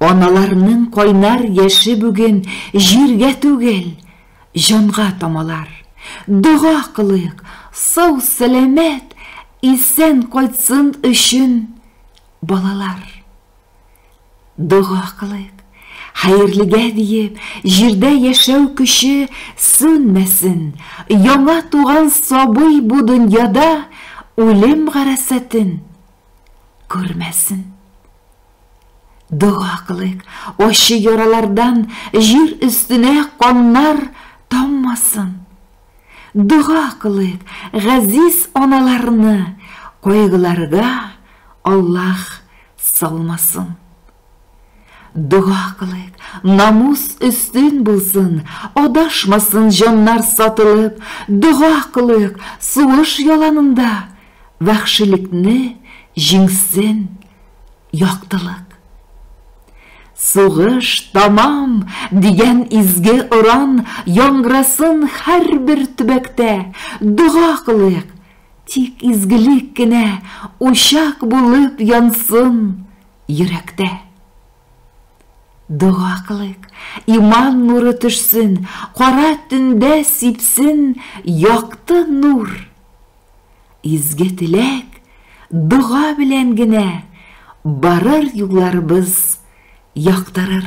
Аналарның кайнар яше бүген җиргә түгел, җанга тамалар. Дога кылыйк, сау-сәламәт, исән кайтсын өчен балалар. Дога кылыйк, хәерлегә диеп, җирдә яшәү көче сүнмәсен, яңа туган сабый бу дөньяда үлем гарәсәтен Күрмәсен. Дога кылыйк, ачы яралардан җир өстенә каннар таммасын. Дога кылыйк, газиз аналарны кайгыларга Аллаһ салмасын. Дога кылыйк, намус өстен булсын, Адашмасын җаннар сатылып, Дога кылыйк, сугыш яланында Вәхшилекне җиңсен яктылык. Сугыш тамам! дигән изге оран Яңгырасын һәрбер төбәктә, Дога кылыйк, тик изгелек кенә Учак булып янсын йөрәктә. Дога кылыйк, иман нуры төшсен, кара төндә сипсен якты нур. Изге теләк, дога белән генә барыр юлларыбыз яктырыр.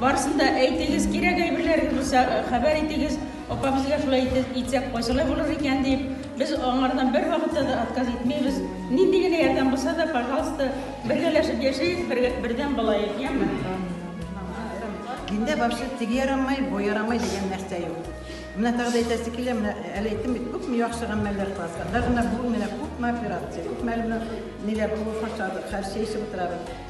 Барысын да әйтегез, кирәк әйберләр булса, хәбәр итегез, апа, безгә шулай итеп итсәк, кайсылай булыр икән дип, без аңардан бервакытта да отказ итмибез. Нинди генә ярдәм булса да, пожалуйста, бергәләшеп яшәик, бердәм булаек, яме? Диндә вообще теге ярамай, бу ярамай дигән нәрсә юк. Менә тагы да әйтәсе килә, менә әле әйттем бит, күпме яхшы гамәлләр класслар. Даже менә бүген менә күпме операция, күпме әле менә ниләр, кул фаршадык, хәл чәй эчеп утырабыз.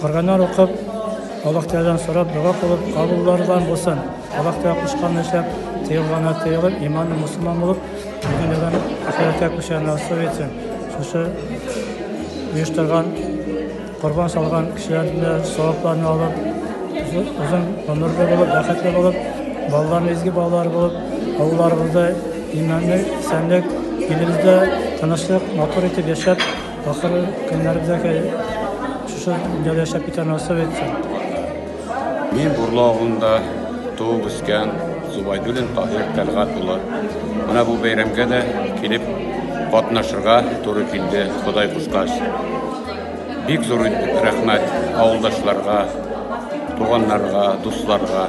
Корганнар укып, Аллаһ Тәгаләдән сорап, дога кылып, кабуллардан булсын. Аллаһ Тәгалә кушканны эшләп, тыелганнар тыелып, иманлы мусламан булып, дөньядан ахирәткә күчәргә насыйп итсен. Шушы оештырган, корбан салган кешеләрне савапларны алып, озын гомерле булып, бәхетле булып, балаларны изге балалар булып, авылларыбызда иманлык, исәнлек, илебездә тынычлык, матур итеп яшәп, Ахыры көннәрдә шушы дәүләт яшәп китә насыйп итсен. Мин Бурлы авылында туып үскән Зубайдуллин Таһир Тәлгат улы. Менә бу бәйрәмгә дә килеп катнашырга туры килде, Ходай кушкач. Бик зур рәхмәт авылдашларга, туганнарга, дусларга.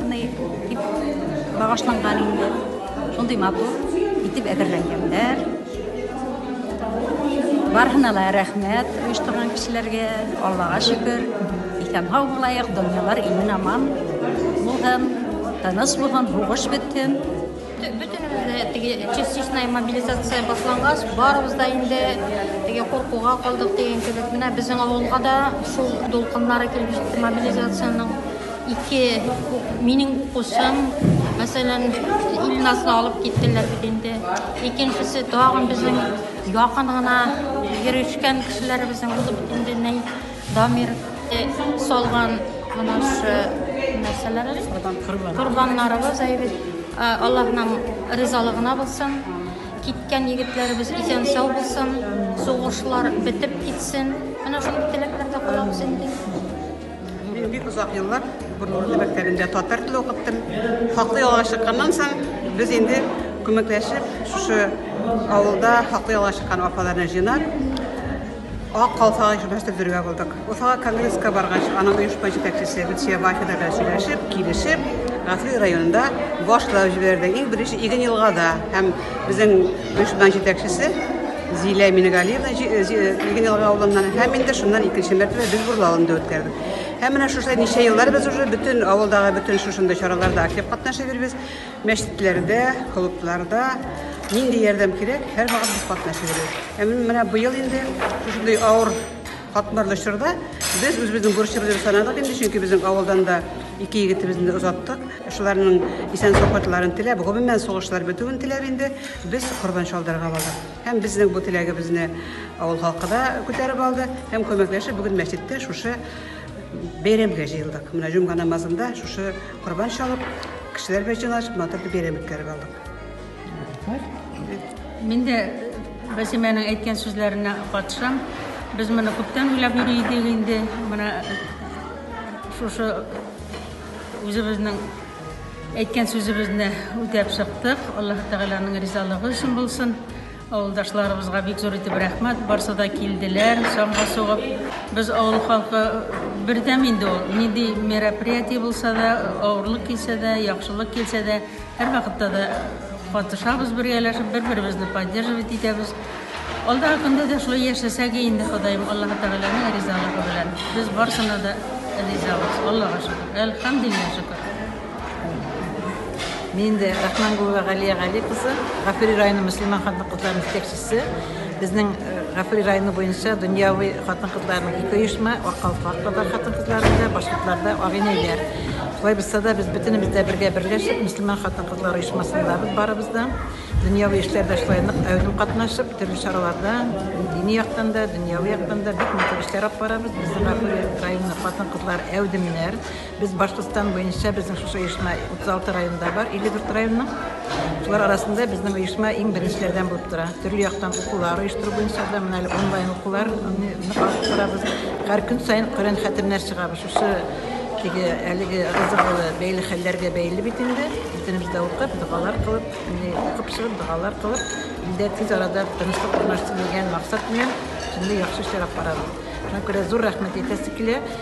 Менә дип багышланган инде. Шундый матур итеп әзерләнгәннәр. Бархына ла рәхмәт оештырган кешеләргә. Аллага шөкер, исән һау булайык, дөньялар имен аман булһын, тыныч булһын, һугыш бетсен. Бөтенебез теге частичная мобилизация башлангач, барыбыз да инде теге куркуга калдык дигән кебек. Менә безнең авылга да шул дулкыннары килеп җитте мобилизациянең. Ике минем укучым, мәсәлән, Илназны алып киттеләр бит инде. Икенчесе тагын безнең якын гына йөрешкән кешеләребезнең булып инде ни Дамир э, салган менә шу нәрсәләр корбаннарыбыз әйбит. Э, Аллаһның ризалыгына булсын. Киткән егетләребез исән сау булсын, сугышлар бетеп китсен. Менә шундый теләкләрдә калабыз инде. Мин бик озак еллар Борнурлы мәктәбендә татар теле укыттым. Хаклы ялга чыкканнан соң без инде күмәкләшеп шушы авылда хаклы ялга чыккан апаларны җыйнап Ак калфак оешмасы төзергә булдык. Уфага конгресска баргач, аның оешма җитәкчесе Гөлсия Бафина белән сөйләшеп, килешеп, Гафри районында башлап җибәрде. Иң беренче Иген елгада һәм безнең оешма җитәкчесе Зилә Мингалиевна Игенелга авылыннан һәм инде шуннан икенче мәртәбә без Бурлы авылында үткәрдек. Һәм менә шушы ничә еллар без уже бөтен авылдагы бөтен шушындый чараларда актив катнашып йөрбез. Мәчетләрдә, клубларда нинди ярдәм кирәк, һәрвакыт без катнашып йөрбез. Һәм менә быел инде шушындый авыр Катмарлы чорда без үзебезнең бурычыбызны санадык инде, чөнки безнең авылдан да ике егетебезне дә озаттык. Шуларның исән сафатларын теләп, гомумән сугышлар бетүен теләп инде без корбан чалдырырга бардык. Һәм безнең бу теләгебезне авыл халкы да күтәреп алды һәм күмәкләшеп бүген мәчеттә шушы бәйрәмгә җыелдык. Менә җомга намазында шушы корбан чалып, кешеләр белән җыелышып, матур бәйрәм үткәреп алдык. Мин дә Бәсимәнең әйткән сүзләренә катышам. Без моны күптән уйлап йөри идек инде. Менә шушы үзебезнең әйткән сүзебезне үтәп чыктык. Аллаһ Тәгаләнең ризалыгы өчен булсын. Авылдашларыбызга бик зур итеп рәхмәт. Барсы да килделәр, самга сугып. Без авыл халкы бердәм инде ул. Нинди мероприятие булса да, авырлык килсә дә, яхшылык килсә дә, Һәрвакытта да катышабыз бергәләшеп, бер-беребезне поддерживать итәбез. Алдагы көндә дә шулай яшәсәге инде, Ходаем Аллаһы Тәгаләнең ризалыгы белән. Без барсына да ризабыз. Аллага шөкер. Әлхәмдулиллаһ шөкер. Мин дә Рахмангулова Галия Гали кызы, Гафури районы мөселман хатын-кызлары җитәкчесе. Безнең Гафури районы буенча дөньяви хатын-кызларның ике оешма, Аккалфак татар хатын-кызларында, башкортларда Агинәйләр. Шулай булса да, без бөтенебез дә бергә берләшеп, мөселман хатын-кызлар оешмасындабыз барыбыз да. Дөньяви эшләрдә шулай нык әүдем катнашып, төрле чараларда, дини яктан да, дөньяви яктан да бик матур эшләр алып барабыз. Безнең Гафури районы хатын-кызлар әүдемнәр. Без Башкортстан буенча безнең шушы оешма 36 районда бар, 54 районның. Шулар арасында безнең оешма иң беренчеләрдән булып тора. Төрле яктан укулар оештыру буенча да менә әле онлайн укулар аны алып торабыз. Һәр көн саен Коръән хәтемнәр чыгабыз. Шушы теге әлеге рызыгылы бәйле хәлләргә бәйле бит инде. Бөтенебез дә укып, догалар кылып, менә укып чыгып, догалар кылып, илдә тиз арада тынычлык урнашсын дигән максат белән шундый яхшы эшләр алып барабыз. Шуңа күрә зур рәхмәт әйтәсе килә.